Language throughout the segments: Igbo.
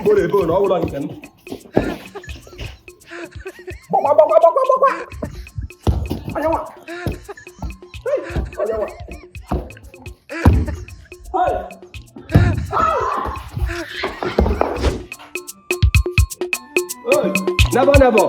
mboro ebe ọ na ọ bụla nke m gbakwa gbakwa gbakwa gbakwa anyanwa anyanwa Never, never.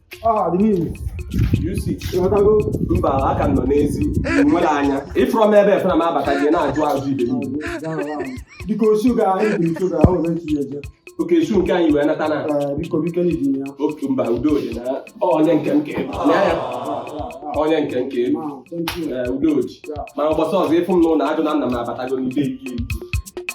mba aka nọ n'ezi nwere anya ị fụrọ m ebe efere m abata gị na-ajụ ajụ ibe biko osu ga oke esu nke anyị wee nata na otu mba udo dị na onye nke nke onye nke nke udo ji ma ụbọchị ọzọ ị fụ m n'ụlọ ajụ na nna m abatago n'ide ike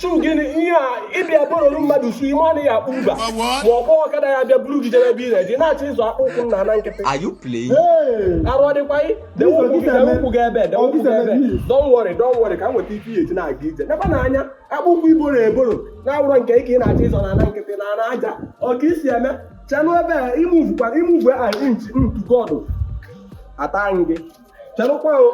shoe gịnị ihe a ị bịa bụrụrụ mmadụ shoe ime anaghị akpụ mba ma ọ kpọọ ọkada ya bịa buru gị jee ebe ị na-eje na-achọ ịzọ akpụ ụkwụ na ana nkịtị arụ ọ dịkwa gị dewe ụkwụ gị ebe dewe ụkwụ gị ebe don't worry don't worry ka m nweta ife ihe eji na-aga ije nekwa na anya akpụ ụkwụ i boro eboro na-awụrọ nke gị ị na-achọ ịzọ na ana nkịtị na ana aja ọ ka e si eme chelụ ebe a i move kwa i move a inch to God ata anyị gị Chelụkwa o.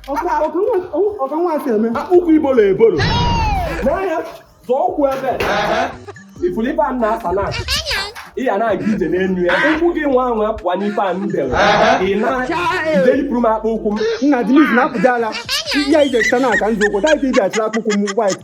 Ọ ka nwa si eme. Akpụ ụkwụ i bolo ebolo. N'anya, zọọ ụkwụ ebe. Ị fụrụ ife a na-asa na ị ya na-aga ije n'elu ya ụkwụ gị nwa anwa pụọ n'ife a m dere ị na-ije yipụrụ m akpụ ụkwụ m Nna Denise na-apụta ala. Ya ije site na aka nzọ ụkwụ. Taa ije achịla akpụkwụ m white.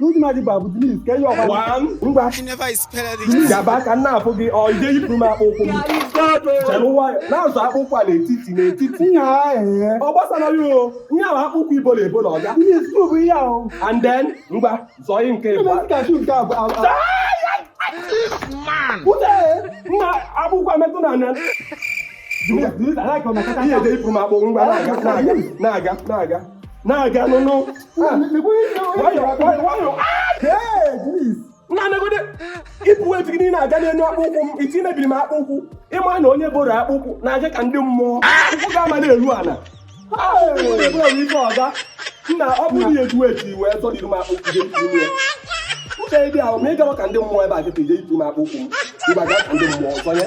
n'ụdị mmadụ a bụ Denise ka ihe ọkwa ngwa gaba ka nna afụ gị o ị je yipụrụ m akpụ ụkwụ m chere nwayọ na-azọ akpụ ụkwụ a n'etiti n'etiti ọ gbasara ya onye ahụ akpụ ụkwụ i bolo ebolo ọga and then ngwa zọọ ihe nke ịbụ nna akpụ ụkwụ emetụ na ana ị je yipụrụ m akpụ ngwa na-aga na-aga na-aga na-aga n'ụlọ nna negodi ị fụ etu gị na-aga n'elu akpụ ụkwụ m iti mebiri m akpụ ụkwụ ị ma na onye boro akpụ ụkwụ na-aje ka ndị mmụọ ụkwụ ga-ama na-eru ana ife ọga nna ọ bụrụ na eju etu iwe zọdịrị m akpụ ụkwụ gị uche dị ahụ ma ị gawa ka ndị mmụọ ebe a kịta ije itu m akpụ ụkwụ m ị gawa ka ndị mmụọ zọnye